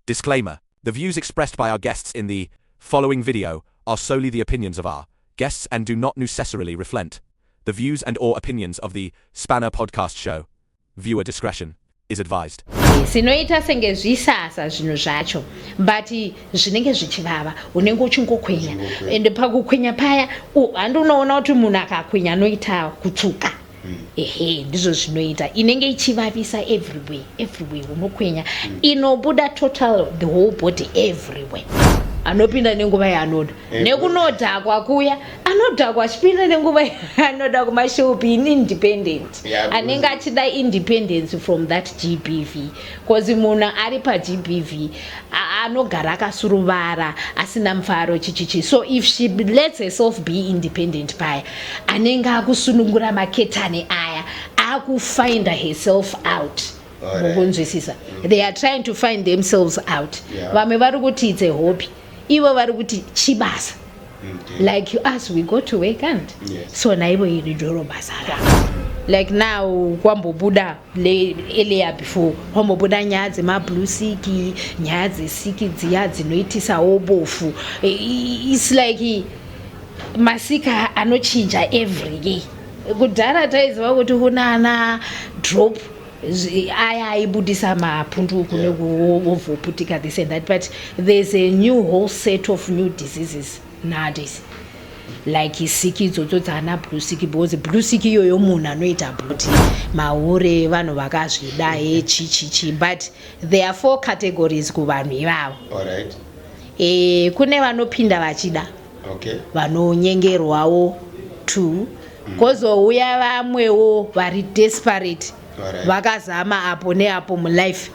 Disclaimer, The views expressed by our guests in the following video are solely the opinions of our guests and do not necessarily reflent the views and or opinions of the Spanner Podcast Show. Viewer discretion is advised. sinoita senge zvisasa zvinhu zvacho but zvinenge zvichivava unenge uchingokwenya and pakukwenya paya handi unoona kuti munhu akakwenya anoita kutsuka mm. ehe ndizvo zvinoita inenge ichivavisa everywhere everywhere unokwenya mm. inobuda total the whole body everywhere anopinda nenguva yaanoda eh, nekunodhakwa kuya anodhakwa achipinda nenguva yaanoda kumashopi in independent anenge achida independence from that gbv Kozi munhu ari paGBV anogara akasuruvara asina mufaro chichichi so if she lets herself be independent paya anenge akusunungura maketani aya akufinder herself out mukunzwisisa they are trying to find themselves out vamwe vari kuti it's a hobby ivo vari kuti chibasa okay. like you us we go to work and yes. so naivo iri doro basa ravo like now kwambobuda eleya before kwambobuda nyaya dzemablue siki nyaya dzesiki dziya dzinoitisawo bofu its like masika anochinja every day kudhara taiziva kuti kunana drop aya aibudisa mapundu uku nekuwovoputika this and that but there's a new whole set of new diseases nowadays like siki idzodzo dzaana blusiki because blusiki iyoyo munhu anoita bluti mahure vanhu vakazvida he chichichi but there are four categories kuvanhu ivavo e, kune vanopinda vachida okay. vanonyengerwawo two mm. kozouya vamwewo vari desperate right. vakazama apo neapo mulife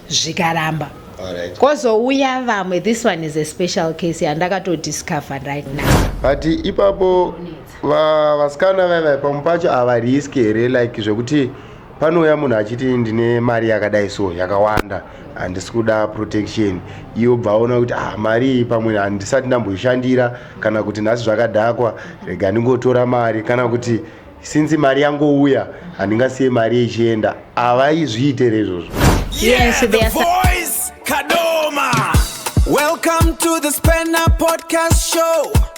zvikaramba right. kozouya vamwe this one is a special case yandakatodiscover right now but ipapo vasikana vaiva pamu pacho havarisk here like zvekuti panouya munhu achiti ndine mari yakadai so yakawanda handisi kuda protection iyo bva aona kuti ah mari iyi pamwe handisati ndamboishandira kana kuti nhasi zvakadhakwa rega ndingotora mari kana kuti since mari yangouya handingasiye mari ichienda havaizviitere izvozvo yes, Kadoma. Welcome to the Spanner Podcast Show.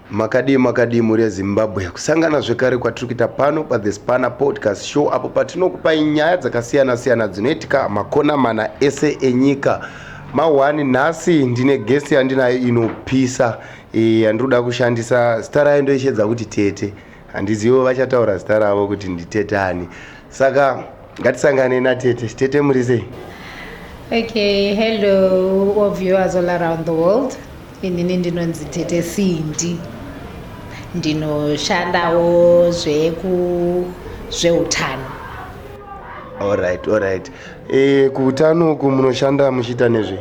Makadii makadii mhuri yeZimbabwe, kusangana zvekare kwatiri kuita pano paThe Spanner Podcast Show apo patinokupai nyaya dzakasiyana siyana dzinoitika makona mana ese enyika. Mahwani nhasi ndine guest yandinayo inopisa eh, yandiri kuda kushandisa zita rayo ndoishedza kuti Tete. Handizivo vachataura zita ravo kuti nditete ani. Saka ngatisangane natete. Tete muri sei? Okay, hello all viewers all around the world. Inini ndinonzi Tete Cindy. Ndinoshandawo zveku zveutano. All right, all right. E, kuutano uku munoshanda muchiita nezvei?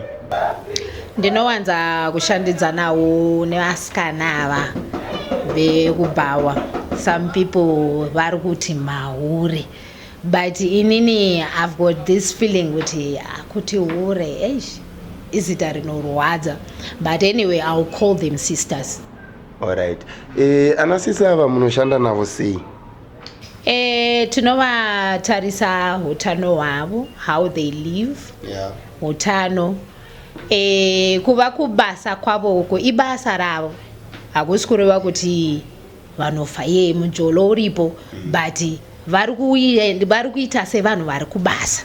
Ndinowanza kushandidzanawo nevasikana ava vekubhawa. Some people vari kuti mahure but inini I've got this feeling kuti kuti hure eish izita rinorwadza but anyway I'll call them sisters. Alright. E, ana sisi ava munoshanda navo sei? E, tinovatarisa utano hwavo how they live yeah. utano e, kuva kubasa kwavo uko ibasa ravo hakusi kureva kuti vanofa ye mujolo uripo mm. but vari kuita sevanhu vari kubasa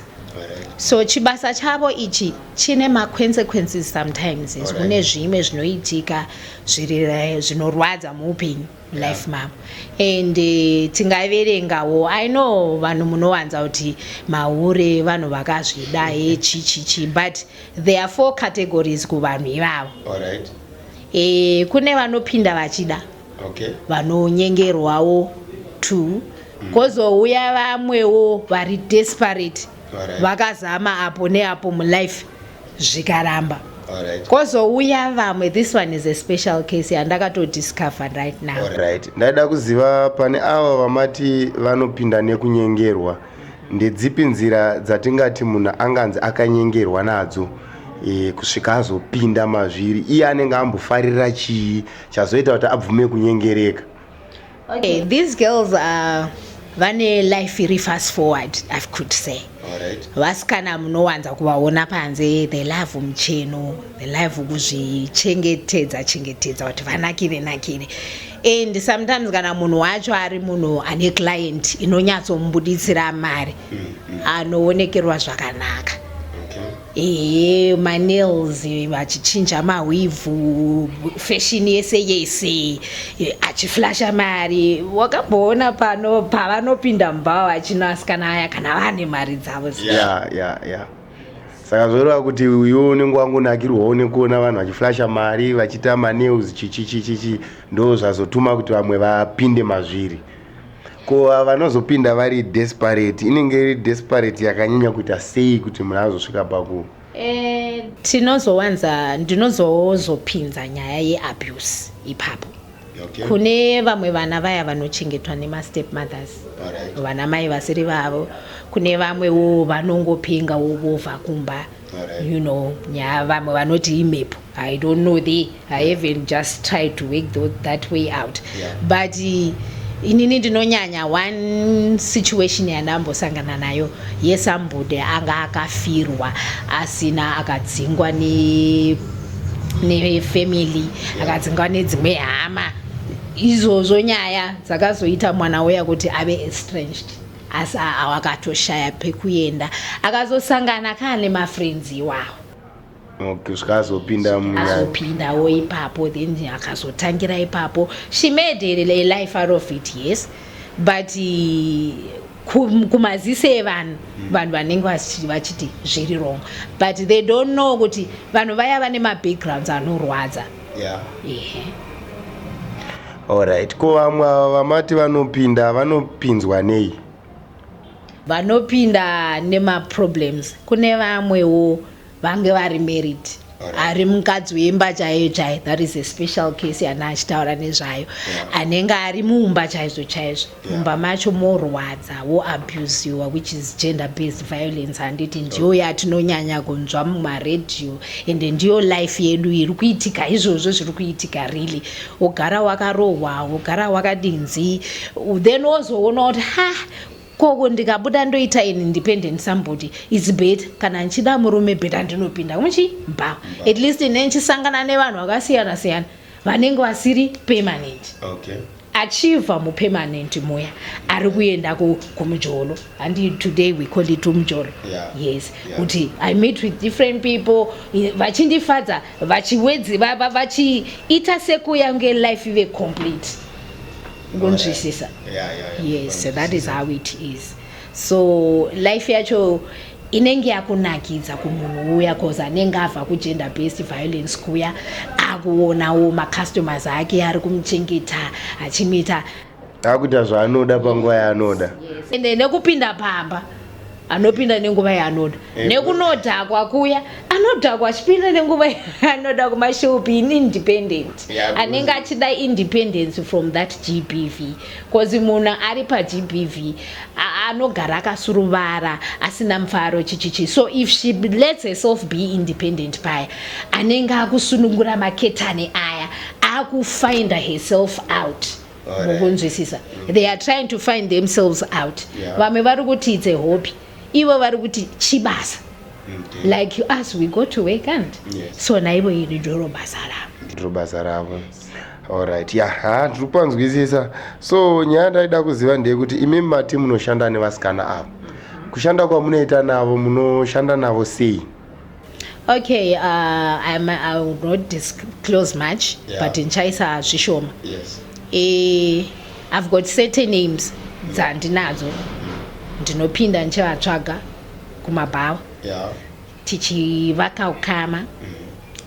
so chibasa chavo ichi chine maconsequences sometimes kune zvimwe zvinoitika zvinorwadza muupenyu life mom and eh, tingaverengawo i know vanhu munowanza kuti mahure vanhu vakazvida he chichichi but there are four categories kuvanhu ivavo Alright. e, kune vanopinda vachida Okay. vanonyengerwawo two kozouya vamwewo vari desperate Alright. vakazama apo neapo mulife zvikaramba Alright. kozouya vamwe this one is a special case yandakatodiscover right now Alright. ndaida kuziva pane ava vamati vanopinda nekunyengerwa ndedzipi nzira dzatingati munhu anganzi akanyengerwa nadzo e, kusvika azopinda mazviri iye anenge ambofarira chii chazoita kuti abvume kunyengereka Okay, these girls are vane life iri fast forward i could say vasikana munowanza kuvaona panze the love mucheno the love kuzvichengetedza chengetedza kuti vanakire nakire and sometimes kana munhu wacho ari munhu ane client inonyatsomubuditsira mari mm, mm. anoonekerwa zvakanaka Ehe manails achichinja mahwivhu fashion yese yese achiflasha mari wakamboona pano pavanopinda mubhawa achino asikana aya kana vane mari dzavo ya yeah, ya yeah, yeah. saka zvoreva kuti uyo unenge wangonakirwawo nekuona vanhu vachiflasha mari vachiita manails chichichichichi ndo zvazotuma kuti vamwe vapinde mazviri ko vanozopinda vari desperate inenge iri desperate yakanyanya kuita sei kuti munhu azosvika paku eh, tinozowanza ndinozozopinza nyaya yeabuse ipapo okay. kune vamwe vana vaya vanochengetwa nemastep mothers right. vana mai vasiri vavo kune vamwewo vanongopengawo vovha kumba you know nyaya vamwe vanoti imhepo i don't know the i haven't just tried to work the, that way out yeah. but uh, inini ndinonyanya one situation yandambosangana nayo yesambude anga akafirwa asina akadzingwa nefamily akadzingwa nedzimwe hama izvozvo nyaya dzakazoita mwana uya kuti ave estranged asi awo akatoshaya pekuenda akazosangana kaa nemafrenzi iwawo okay zvikazopinda muyazopindawo ipapo then akazotangira ipapo she made a life out of it yes but kumaziso evanhu hmm. vanhu vanenge vachiti zviri wrong but they don't know kuti vanhu vaya vane mabackgrounds anorwadza yeah. ehe Alright, ko vamwe ava vamati vanopinda vanopinzwa nei? vanopinda nemaproblems kune vamwewo vange vari married ari mukadzi wemba chaiyo chaiyo that is a special case yana achitaura nezvayo anenge ari muumba chaizvo chaizvo mumba macho morwadza woabusiwa which is gender based violence handiti ndiyo yatinonyanya kunzwa mumaredhiyo ende ndiyo life yedu iri kuitika izvozvo zviri kuitika really wogara wakarohwa wogara wakadinzi then wozoona kuti ha koko ndikabuda ndoita ini independent somebody its better kana ndichida murume better ndinopinda kumuchi mba at least ne ndichisangana nevanhu vakasiyana siyana vanenge vasiri permanent okay. achibva mupermanent muya ari kuenda kumujolo handi today we call it umujolo yeah. yes kuti yeah. i meet with different people vachindifadza vachiwedzi vachiita sekuyange life ive complete ngonzwisisa oh, yeah. yeah, yeah, yeah. yes so that is how it is so life yacho yeah. inenge yakunakidza kumunhu uya cause anenge ava kugender based violence kuya akuonawo macustomers ake ari kumuchengeta achimuita akuita zvaanoda panguva yaanoda ende nekupinda pamba anopinda nenguva yaanoda eh, nekunodhakwa kuya anodhakwa achipinda nenguva yaanoda kumashopi in independent anenge achida independence from that gbv Kozi munhu ari paGBV anogara akasuruvara asina mufaro chichichi so if she lets herself be independent paya anenge akusunungura maketani aya akufinda herself out mukunzwisisa mm. they are trying to find themselves out vamwe vari kuti it's a hobby ivo vari kuti chibasa like us we go to work and so naivo iri ndiro basa ravo ndiro basa ravo Alright, ya, ha, ndiri kupanzwisisa. So nyaya ndaida kuziva ndeyekuti imi mati munoshanda nevasikana ava. Kushanda kwamunoita navo munoshanda navo sei? Okay, uh, I'm, I will not disclose much, yeah. but ndichaisa zvishoma. Yes. Eh, I've got certain names dzandinadzo. Ndinopinda ndichivatsvaga kumabhawa. Yeah. tichivaka ukama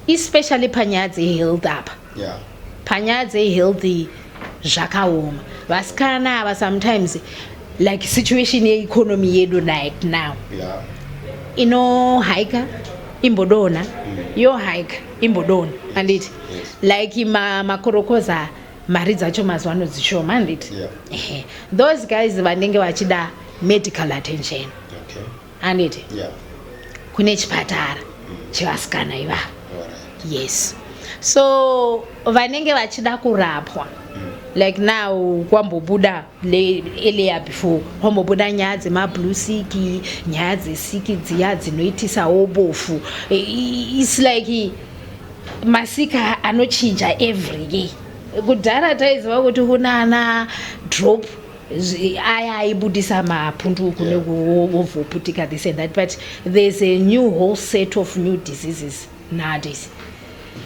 especially panyaya dzehealth apa yeah. panyaya dzehealth zvakaoma vasikana ava sometimes like situation yeeconomy yedu right now yeah. inohaika imbodona mm. yohaika imbodona anditi yes. like makorokoza ma mari dzacho mazuva ano dzishoma handiti yeah. those guys vanenge vachida medical attention handiti yeah. kune chipatara mm. chevasikana ivavo right. yes so vanenge vachida kurapwa mm. like now kwambobuda eleya before kwambobuda nyaya dzemablue siki nyaya dzesiki dziya dzinoitisawo bofu its like masika anochinja every year kudhara taiziva kuti kunana drop aya aibudisa mapundu kune wovoputika this and that but there's a new whole set of new diseases nowadays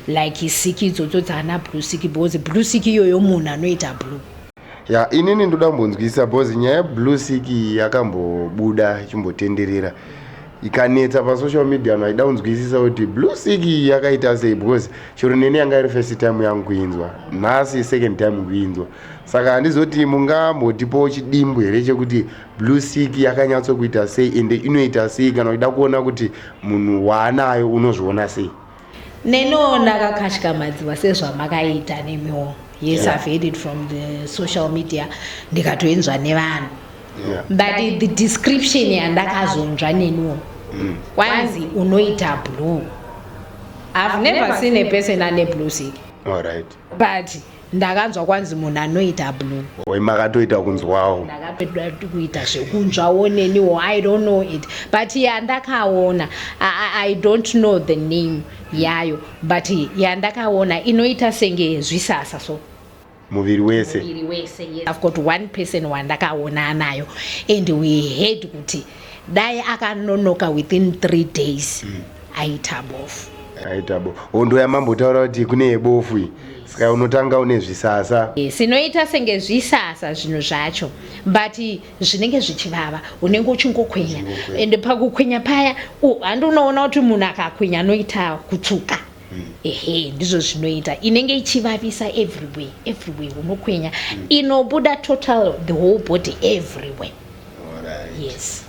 like siki idzodzo dzaana blue siki because blue siki iyoyo munhu anoita blue ya inini ndoda kumbonzwisisa because nyaya yeblue siki yakambobuda ichimbotenderera ikanetsa pasocial media no aida kunzwisisa kuti blue siki yakaita sei because chero neni yanga iri first time yangu kuinzwa nhasi second time kuinzwa Saka handizoti mungambotipawo chidimbu here chekuti blue sick yakanyatsokuita sei ende inoita sei kana uchida kuona kuti munhu waanayo unozviona sei neniwo ndakakatyamadziwa sezvamakaita nemiwo yes yeah. i've heard it from the social media ndikatoinzwa nevanhu yeah. but the description yandakazonzwa neniwo mm. kwanzi unoita blue i've never seen a person ane blue sick all right but ndakanzwa kwanzi munhu anoita blue oi makatoita kunzwawo ndakatoda kuita zvekunzwawo neniwo i don't know it but yandakaona i don't know the name yayo but yandakaona inoita senge zvisasa so muviri wese muviri wese yes. i've got one person wandakaona anayo and we heard kuti dai akanonoka within three days mm. aita bofu aita bofu hondo yamambotaura kuti kune yebofu iyi saka unotanga une zvisasa yes, inoita senge zvisasa zvinhu zvacho but zvinenge zvichivava unenge uchingokwenya and pakukwenya paya handi unoona kuti munhu akakwenya anoita kutsuka mm. ehe ndizvo zvinoita inenge ichivavisa everywhere everywhere unokwenya mm. inobuda total the whole body everywhere right. yes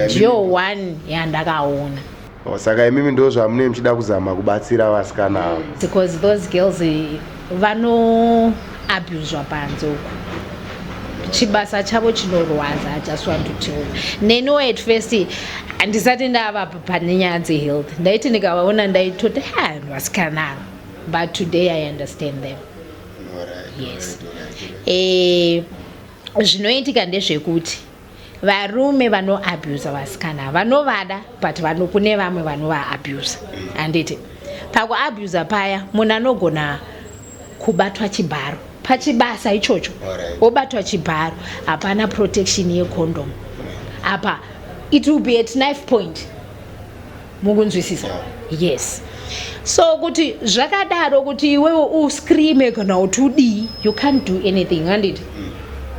ndiyo one yandakaona saka imimi ndo zvamune muchida kuzama kubatsira vasikana ava because those girls eh, vano abuswa panze uku chibasa chavo chinorwadza just want to tell neniwo at first handisati ndava pane nyaya dzehealth ndaiti ndikavaona ndaitoti ha vanhu vasikana ava but today i understand them yes eh, zvinoitika ndezvekuti varume vanoabusa vasikana vanovada but vano kune vamwe vanovaabusa handiti pakuabusa paya munhu anogona kubatwa chibharo pachibasa ichocho wobatwa chibharo hapana protection yecondom apa it will be at knife point mukunzwisisa yes so kuti zvakadaro kuti iwewe uscreame kana kuti udii you can't do anything handiti mm.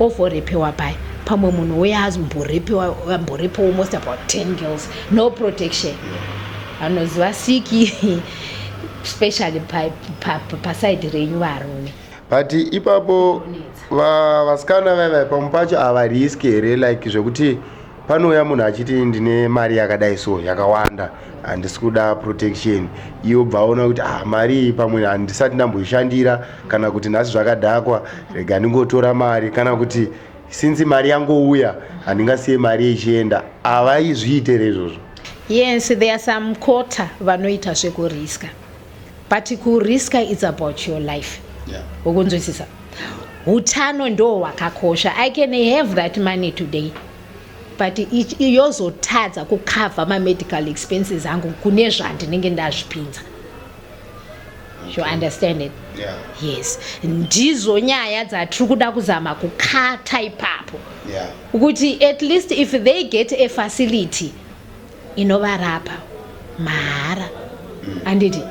ovorepewa paya pamwe munhu uye amborepewa most about 10 girls no protection anoziva siki specially paside renyu varume but ipapo vasikana vaiva pamwe pacho havariski here like zvekuti panouya munhu achiti ndine mari yakadai so yakawanda handisi kuda protection iyo bva aona kuti ah mari iyi pamwe handisati ndamboishandira kana kuti nhasi zvakadhakwa rega ndingotora mari kana kuti since mari yangouya handingasiye mari ichienda havaizviitere izvozvo yes there are some quarter vanoita zvekuriska but kurisker its about your life ukunzwisisa yeah. utano ndo hwakakosha i can have that money today but yozotadza kucover mamedical expenses angu kune zvandinenge ndazvipinza you understand it yeah. yes ndizo nyaya dzatiri kuda kuzama kukata ipapo yeah. kuti at least if they get a facility inovarapa mahara handiti mm.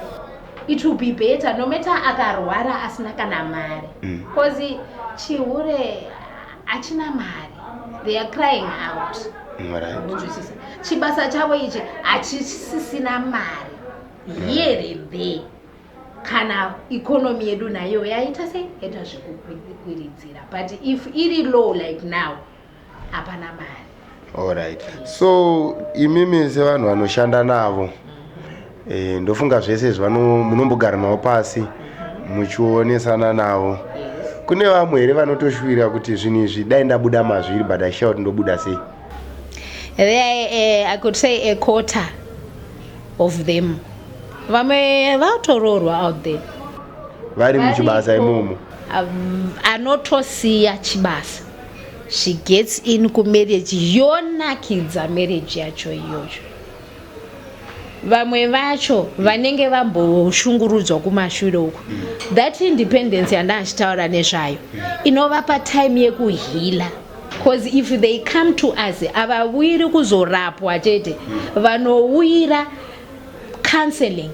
it will be better no matter akarwara asina kana mari bcause mm. chihure hachina mari they are crying out unzwisisa right. chibasa chavo ichi hachisisina mari mm. here there kana ikonomi yedu nayo yaita sei yaita zvekukwiridzira but if iri low like now hapana mari alright so imimi sevanhu vanoshanda navo e, ndofunga zvese izvi munombogara navo pasi muchionesana navo kune vamwe here vanotoshuvira kuti zvinhu izvi dai ndabuda mazviri but aishaa kuti ndobuda sei there uh, i could say a quarter of them vamwe vatoroorwa out there vari muchibasa imomo um, anotosiya chibasa she gets in kumarriage yonakidza marriage yacho iyoyo vamwe vacho vanenge vamboshungurudzwa kumashure uko that independence yanda achitaura nezvayo inovapa time yekuhila bcause if they come to us havawiri kuzorapwa chete vanouyira counseling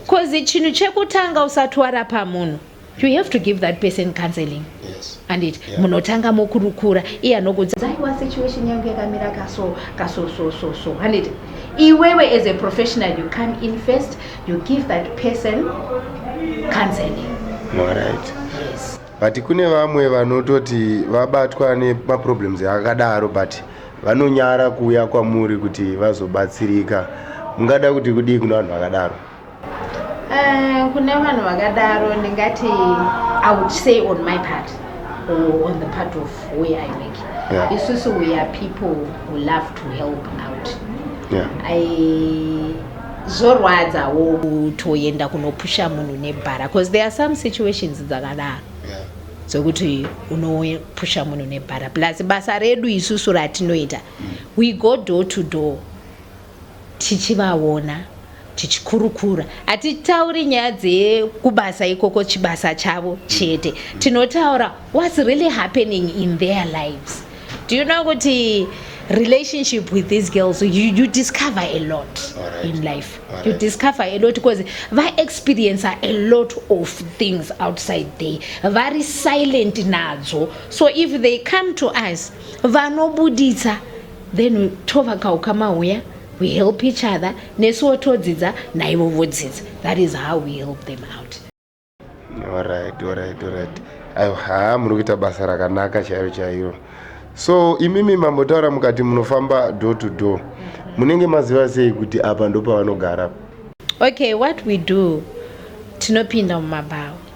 bcause chinhu chekutanga usati warapa munhu you have to give that person counseling yes. and it yeah. munotanga mokurukura iye anokudza aiwa situation yangu yakamira kaso kaso so so so handiti iwewe as a professional you come in first you give that person counseling right. yes. but kune vamwe vanototi vabatwa nemaproblems akadaro but vanonyara kuuya kwamuri kuti vazobatsirika mungada kuti kudii kuna vanhu vakadaro Eh, kune vanhu vakadaro ndingati i would say on my part or on the part of where i work yeah. isusu we are people who love to help out yeah. I, zvorwadzawo kutoenda kunopusha munhu nebhara because there are some situations dzakadaro yeah. dzokuti unopusha munhu nebhara plus basa redu isusu ratinoita mm. we go door to door tichivaona tichikurukura hatitauri nyaya dzekubasa ikoko chibasa chavo chete tinotaura whats really happening in their lives do you know kuti relationship with these girls you, you discover a lot right. in life right. you discover a lot because va experience a lot of things outside there vari silent nadzo so if they come to us vanobuditsa then tovaka ukama huya we help each other nesuwo todzidza naivo vodzidza that is how we help them out orit orit orit aiwa haa muri kuita basa rakanaka chairo chairo so imimi mambotaura mukati munofamba door to door munenge maziva sei kuti apa ndopavanogara okay what we do tinopinda mumabhawa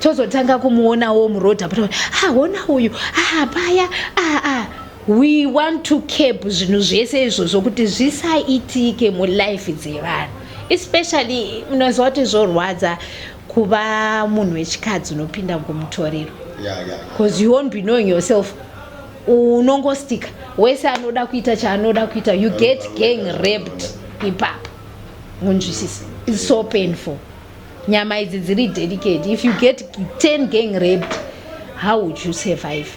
tozotanga kumuonawo muroad apo ha hona uyu ha paya ah, ah. we want to cap zvinhu zvese izvozvo kuti zvisaitike mulife dzevanhu especially unoziva kuti zvorwadza kuva munhu wechikadzi unopinda ngomutoriro bcause you won't be knowing yourself unongostika wese anoda kuita chaanoda kuita you get gang raped ipapo munzwisisa its so painful Nyama idzi dziri delicate. If you get 10 gang raped, how would you survive?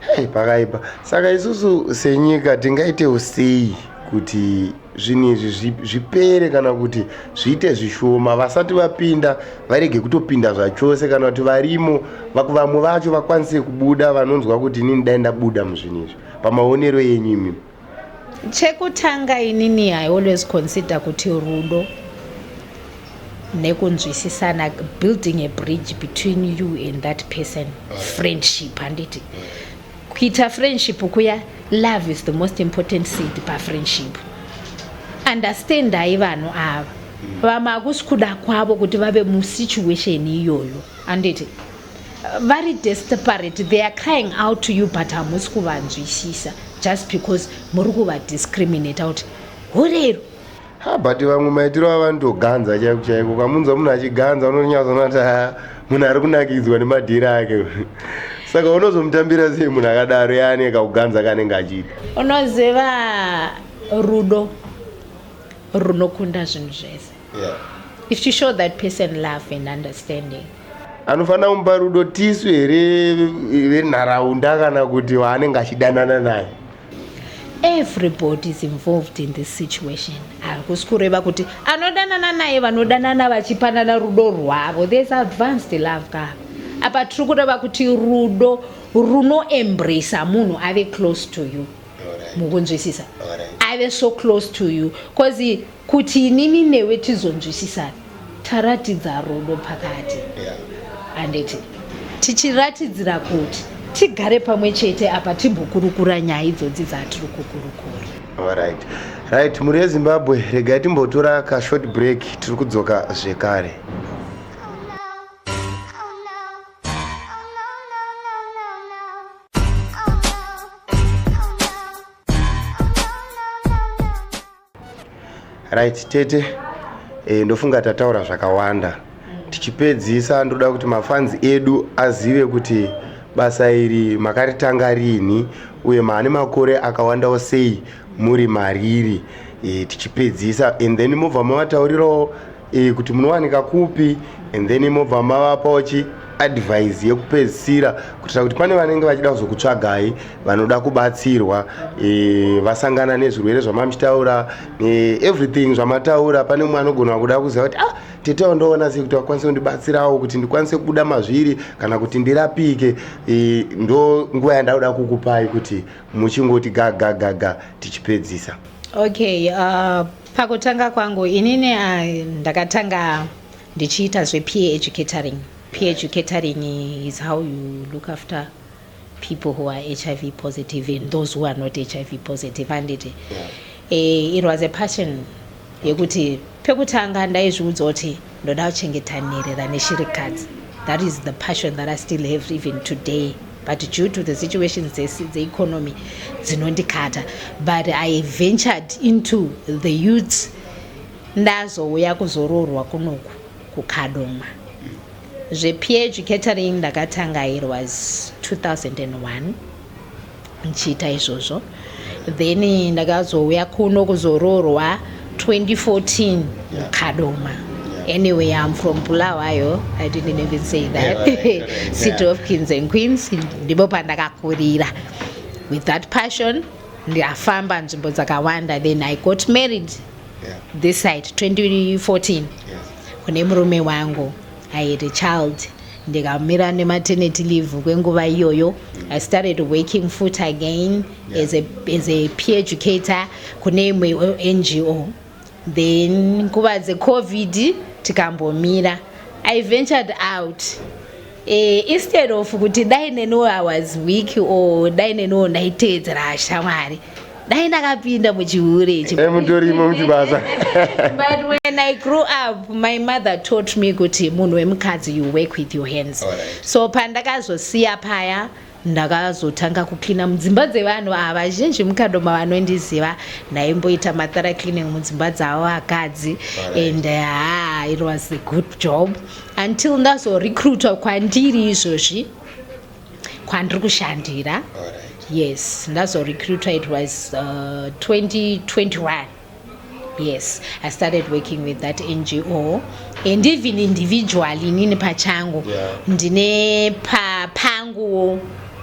Hey, pakaipa. Saka isusu senyika tingaite usei kuti zvinhu izvi zvipere kana kuti zviite zvishoma vasati vapinda varege kutopinda zvachose kana kuti varimo vamwe vacho vakwanise kubuda vanonzwa kuti inini dai ndabuda muzvinhu izvi pamaonero yenyu imimi Chekutanga inini I always consider kuti rudo nekunzwisisana building a bridge between you and that person friendship handiti kuita friendship kuya love is the most important seed pafriendship understandai vanhu ava vamwe akusi kuda kwavo kuti vave musituation iyoyo handiti vari desperate they are crying out to you but hamusi kuvanzwisisa just because muri kuvadiscriminate kuti hurero ha but vamwe maitiro avanotoganza chaiko chaiko ukamunzwa munhu achiganza unonyatsoonati ha munhu ari kunakidzwa nemadhiri ake saka unozomutambira sei munhu akadaro yaane kakuganza kanenge achiita unoziva rudo runokunda zvinhu zvese yeah. if you show that person love and understanding Anofanira kumupa rudo tisu here venharaunda kana kuti waanenge achidanana naye? Everybody is involved in this situation. Hakusi kureva kuti anodanana naye vanodanana vachipanana rudo rwavo. There is advanced love ka. Apa tiri kureva kuti rudo runoembrisa munhu ave close to you. mukunzwisisa aive so close to you bcause kuti inini newe tizonzwisisana taratidza rudo pakati handiti tichiratidzira kuti tigare pamwe chete apa timbokurukura nyaya idzodzi dzatiri kukurukura right right mhuri yezimbabwe regai timbotora kashort break tiri kudzoka zvekare right tete e, ndofunga tataura zvakawanda tichipedzisa ndoda kuti mafanzi edu azive kuti basa iri makaritanga rini uye maane makore akawandawo sei muri mariri e, tichipedzisa and then mobva mavataurirawo e, kuti munowanika kupi and then mobva mavapawo chi advise yekupedzisira kuitira kuti pane vanenge vachida kuzokutsvagai vanoda kubatsirwa e, vasangana nezvirwere zvamamuchitaura e, everything zvamataura pane mumwe anogona kuda kuziva kuti ah, tete wandoona sei kuti vakwanise kundibatsirawo kuti ndikwanise kubuda mazviri kana kuti ndirapike e, ndo nguva yandakuda kukupai kuti muchingoti gagagaga tichipedzisa okay uh... Pakutanga kwangu inini uh, ndakatanga ndichiita zvepeer educatoring. Peer educatoring is how you look after people who are HIV positive and those who are not HIV positive handiti yeah. uh, it was a passion yekuti pekutanga ndaizviudza kuti Ndoda kuchengeta nherera neshirikadzi. That is the passion that I still have even today. But due to the situations dzeeconomy dzinondikata. But I ventured into the youths ndazouya kuzoroorwa kunoku kukadoma. ZvePH catering ndakatanga it was 2001. ndichiita izvozvo then ndakazouya kuno kuzoroorwa 2014 kadoma anyway am from bulawayo i didn't even say that city of kings and queens ndipo pandakakurira with that passion ndafamba nzvimbo dzakawanda then i got married yeah. this side 2014 kune murume wangu I had a child ndikamira nematernity leave kwenguva iyoyo i started working fut again yeah. as, a, as a peer educator kune imwe ngo then nguva dzecovid tikambomira i ventured out Eh, instead of kuti dai neniwo i was weak or dai neniwo ndaiteedzera shamwari dai ndakapinda muchihure ichi eh, mutorimo muchibasa but when i grew up my mother taught me kuti munhu wemukadzi you work with your hands right. so pandakazosiya paya ndakazotanga kuklina mudzimba dzevanhu ava vazhinji mukadoma vanondiziva ndaimboita mathara cleaning mudzimba dzavo vakadzi and eh, ha it was a good job until ndazorecruitwa kwandiri izvozvi kwandiri kushandira yes ndazorecruitwa it was uh, 2021 yes i started working with that ngo and even individually inini pachangu yeah. ndine pa, panguwo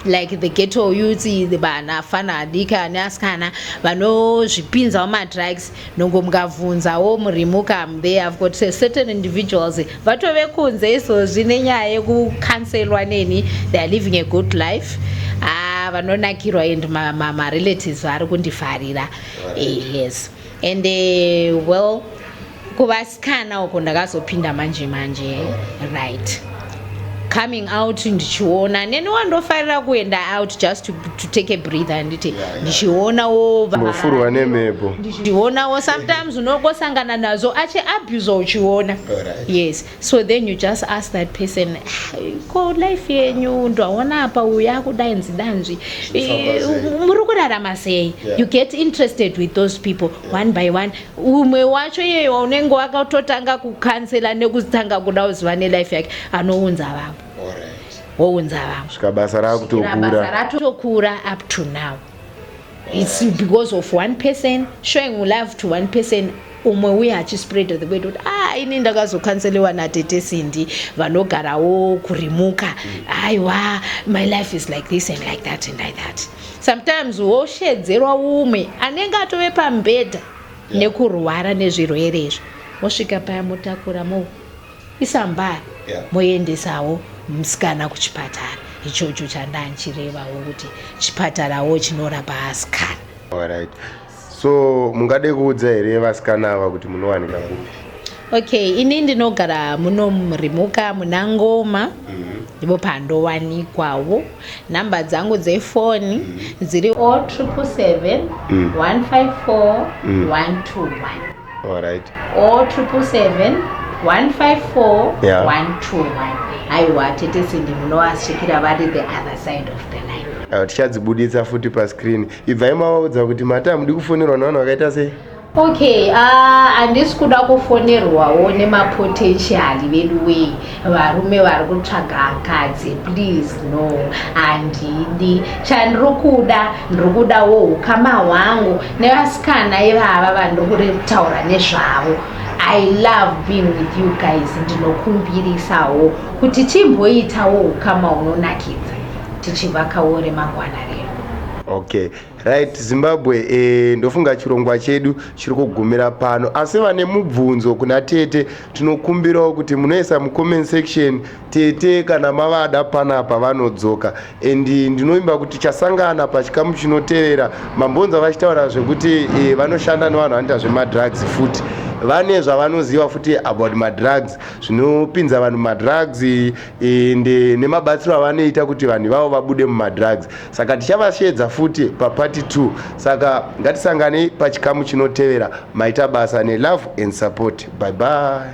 like the ghetto youth the vanafana adiki ane asikana vanozvipinzawo madrugs Nongo mukabvunzawo murimuka they have got certain individuals vatove kunze izvozvi nenyaya yekucancelwa neni they are living a good life ah, vanonakirwa and marelatives ma, ma vari kundifarira eh, yes and uh, well kuvasikana uko ndakazopinda manje manje right coming out ndichiona neni wandofarira kuenda out just to, to take a breathe handiti ndichionawo vofurwa nemhepo ndichionawo sometimes unogosangana nazo achi abuse uchiona yes so then you just ask that person ah, ko life yenyu ndaona apa uyu akudai nzidanzvi eh, muri kurarama sei you get interested with those people one by one umwe wacho iyeyo waunenge wakatotanga kukansela nekutanga kuda kuziva nelife yake anounza vamwe wounza vamwe svika basa rakutokura ratokura up to now its because of one person showing love to one person umwe uye achispread the word kuti ah ini ndakazokanselewa natete sindi vanogarawo kurimuka mm. aiwa my life is like this and like that and like that Sometimes woshedzerwa umwe anenge atove pambedha yeah. nekurwara nezvirwere izvo mosvika paya motakura mo isa mbari yeah. moendesawo musikana kuchipatara ichocho chandanchirevawo kuti chipatarawo chinorapa asikana Alright. so mungade kuudza here vasikana ava kuti munowanika kupi okay ini ndinogara muno murimuka muna ngoma mhm. ndipo mm -hmm. pandowanikwawo nhamba dzangu dzefoni mm -hmm. dziri o oh triple seven mm. one five four mm. one two one allright o oh triple seven one five four yeah. one two one haiwa tete sindi munovasikira vari the other side of the line uh, tichadzibuditsa futi pascreen ibvai mavaudza kuti mati hamudi kufonerwa nevanhu vakaita sei okay ah, handisi uh, kuda kufonerwawo nemapotentiali vedu wei varume vari kutsvaga akadzi please no handidi chandiri kuda ndiri kudawo ukama hwangu nevasikana ivava vandiri kuretaura nezvavo i love being with you guys ndinokumbirisawo kuti timboitawo ukama unonakidza tichivakawo remangwana redu okay right zimbabwe eh, ndofunga chirongwa chedu chiri kugumira pano asi vane mubvunzo kuna tete tinokumbirawo kuti munoisa mucomment section tete kana mavada panapa vanodzoka and ndinovimba kuti chasangana pachikamu chinotevera mambonza vachitaura zvekuti eh, vanoshanda nevanhu vanoita zvemadrugs futi vane zvavanoziva futi about madrugs zvinopinza vanhu madrugs ende nemabatsiro avanoita kuti vanhu vavo vabude mumadrugs saka tichavasheedza futi paparty 2 saka ngatisanganei pachikamu chinotevera maita basa nelove and support bye bye